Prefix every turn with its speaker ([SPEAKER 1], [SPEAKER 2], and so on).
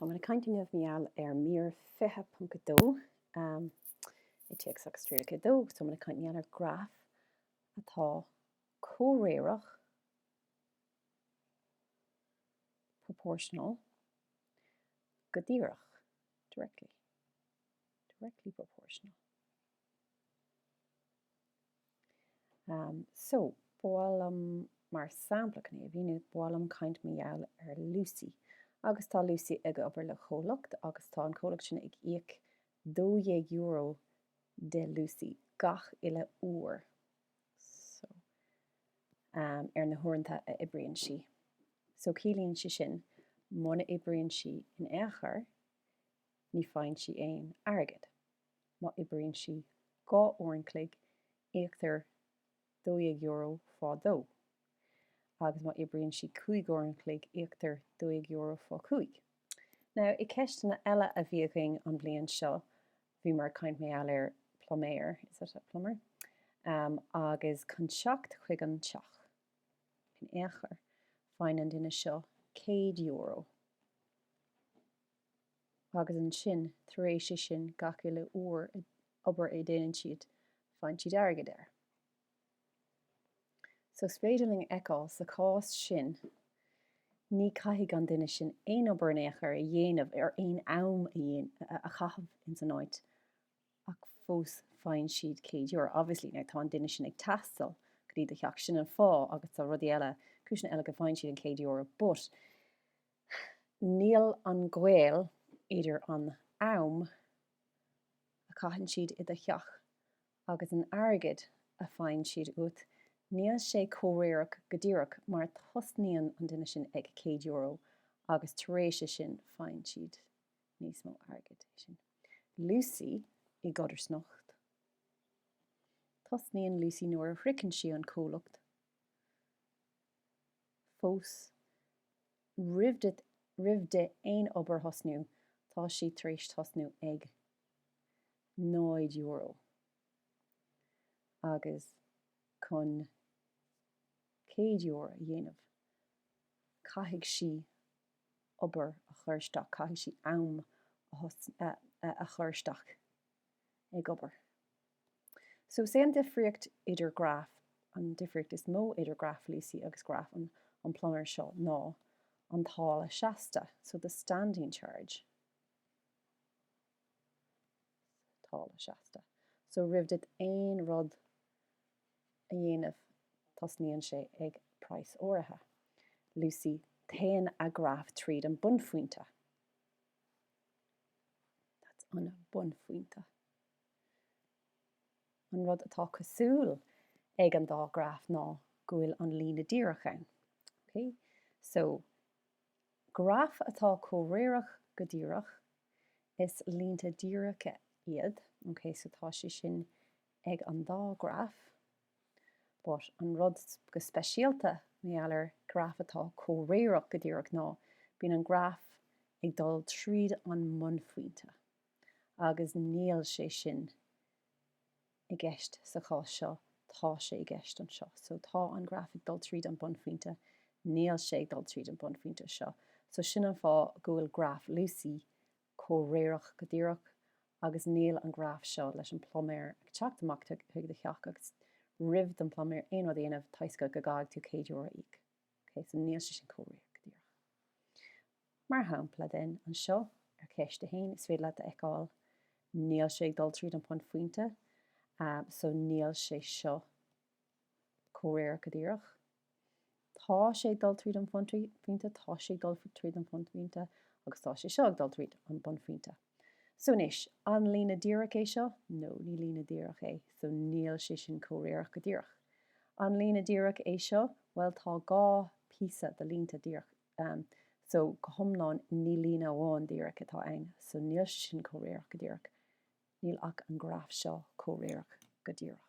[SPEAKER 1] Tá mé ag caint inniu mar gheall ar mír fiche ponc a dó, i dTéacs agus Trialacha a dó. Tá mé ag caint mar gheall ar graf atá comhréireach, proportional, go díreach, directly, directly proportional. Am, So, ba mhaith liom, mar sampla, chun é a mhíniú, ba mhaith liom caint mar gheall ar Lucy agus tá Lucy ag obair le comhlacht agus tá an comhlacht sin ag íoc €12 do Lucy gach uile uair so, am, ar na huaireanta a oibríonn sí. So, ciallaíonn sé sin muna oibríonn sí in aon chor, ní faigheann sí aon airgead. má oibríonn sí dhá uair an chloig íoctar €12 fá dó agus má oibríonn sí cúig uair an chloig íoctar €12 fá chúig. Now i ceisteanna eile a bhí againn an bhliain seo bhí muid ag caint mar gheall ar pluiméir, is that a plumber? um, agus chun teacht chuig an teach in aon chor faigheann an duine seo €100. agus ansin tar éis é sin gach uile uair obair a déanann siad faigheann siad airgead air. So is féidir linn a fheiceáil sa chás sin ní caithfidh an duine sin aon obair in aon chor a dhéanamh nó aon am a chaitheamh ins an áit ach fós faigheann siad céad euro. Obviously now tá an duine sin ag taisteal go dtí do theach sin an fáth agus tá rudaí eile cúiseanna eile go bhfaigheann siad an céad euro but Níl an gaol idir an t-am a chaitheann siad i do theach agus an airgead a faigheann siad uait, níl sé comhréireach go díreach mar tosnaíonn an duine sin ag €100 agus tar éis é sin faigheann siad níos mó airgid. Lucy, I gcodarsnacht, tosnaíonn Lucy nuair a shroicheann sí an comhlacht. fós roimh di roimh di aon obair a thosnú tá sí tar éis tosnú ag náid euro agus chun céad euro a dhéanamh caithfidh sí obair a chur isteach caithfidh sí am a thosn a a chur isteach. ag obair. So is é an difríocht idir graf, an difríocht is mó idir graf Lucy agus graf an an pluiméir seo ná an táille seasta, so the standing charge. táille seasta. So roimh duit aon rud a dhéanamh tosnaíonn sé ag praghas áirithe. Lucy téann a graf tríd an bunphointe. That's an bunphointe. An rud atá cosúil ag an dá graf ná go bhfuil an líne díreach ann. Okay? So, graif atá comhréireach go díreach, is línte díreacha iad. Okay? So, tá sé sin ag an dá graf. but an rud go speisialta mar gheall ar graf atá comhréireach go díreach ná bíonn an graf ag dul tríd an mbunphointe agus níl sé sin i gceist sa chás seo tá sé i gceist anseo so tá an graf ag dul tríd an bunphointe níl sé ag dul tríd an bunphointe seo so sin an fáth go bhfuil graf Lucy comhréireach go díreach agus níl an graf seo leis an pluiméir ag teacht amach chuig do theach agus roimh don pluiméir aon rud a dhéanamh toisc go gcaithfidh tú céad euro a íoc ok so níl sé sin comhréireach go díreach mar shampla den anseo ar cheist a haon is féidir leat a fheiceáil níl sé ag dul tríd an bunphointe so níl sé seo Comhréireach go díreach. Tá sé ag dul tríd an bhunphointe, tá sé ag dul tríd an bhunphointe agus tá sé seo ag dul tríd an bunphointe. So anois, an líne díreach é seo? No, ní líne díreach é. So níl sé sin comhréireach go díreach. An líne díreach é seo? Bhuel, tá dhá phíosa de línte díreach ann. So go hiomlán, ní líne amháin díreach atá ann. So níl sé sin comhréireach go díreach. Níl ach an graf seo comhréireach go díreach.